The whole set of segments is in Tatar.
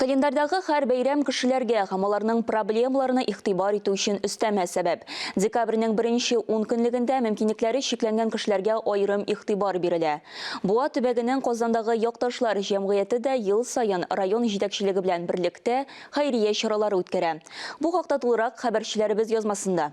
Календарьдагы һәр бәйрәм кешеләргә һәм аларның проблемаларына игътибар итү өчен өстәмә сәбәп. Декабрьнең беренче ун көнлегендә мөмкинлекләре чикләнгән кешеләргә аерым игътибар бирелә. Буа төбәгенең Казандагы Якташлар җәмгыяте дә ел саен район җитәкчелеге белән берлектә хәйрия чаралары үткәрә. Бу хакта тулырак хәбәрчеләребез язмасында.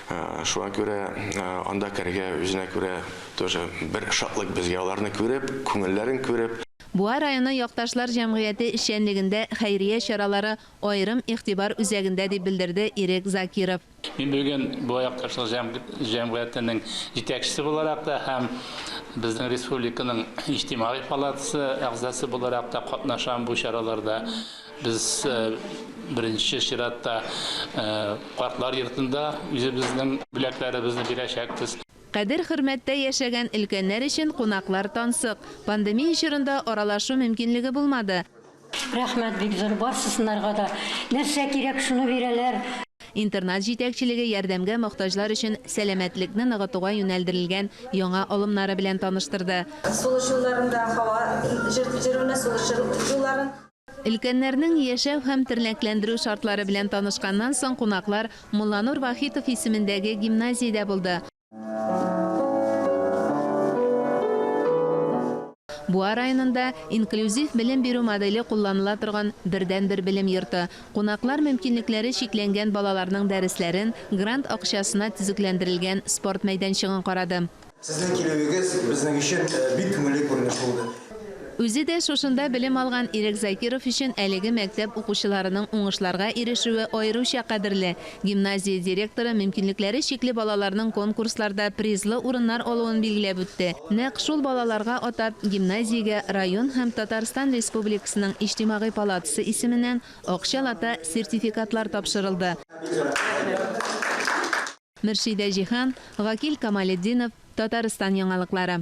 Шуңа күрә анда керергә үзенә күрә тоже бер шатлык безгә аларны күреп, күңелләрен күреп. Буа районы якташлар җәмгыяте эшчәнлегендә хәйрия чаралары аерым игътибар үзәгендә, дип белдерде Ирек Закиров. Мин бүген Буа якташлар җәмгыятенең җитәкчесе буларак та һәм безнең республиканың иҗтимагый палатасы әгъзасы буларак та катнашам бу чараларда. Без беренче чиратта картлар йортында үзебезнең бүләкләребезне бирәчәкбез. Кадер-хөрмәттә яшәгән өлкәннәр өчен кунаклар тансык. Пандемия чорында аралашу мөмкинлеге булмады. Рәхмәт бик зур, барсысынарга да нәрсә кирәк, шуны бирәләр. Интернат җитәкчелеге ярдәмгә мохтаҗлар өчен сәламәтлекне ныгытуга юнәлдерелгән яңа алымнары белән таныштырды. Сулыш юлларында һава җертелмә сулыш юлларын. Өлкәннәрнең яшәү һәм тернәкләндерү шартлары белән танышканнан соң кунаклар Мулланур Вахитов исемендәге гимназиядә булды. Буа районында инклюзив белем бирү моделе кулланыла торган бердәнбер белем йорты. Кунаклар мөмкинлекләре чикләнгән балаларның дәресләрен, грант акчасына төзекләндерелгән спорт мәйданчыгын карады. Сезнең килүегез безнең өчен бик күңелле күренеш булды. Үзе дә шушында белем алган Ирек Закиров өчен әлеге мәктәп укучыларының уңышларга ирешүе аеруча кадерле. Гимназия директоры мөмкинлекләре чикле балаларның конкурсларда призлы урыннар алуын билгеләп үтте. Нәкъ шул балаларга атап, гимназиягә район һәм Татарстан Республикасының Иҗтимагый палатасы исеменнән акча лата сертификатлар тапшырылды. Мөршидә Җиһан, Гакил Камалетдинов, Татарстан яңалыклары.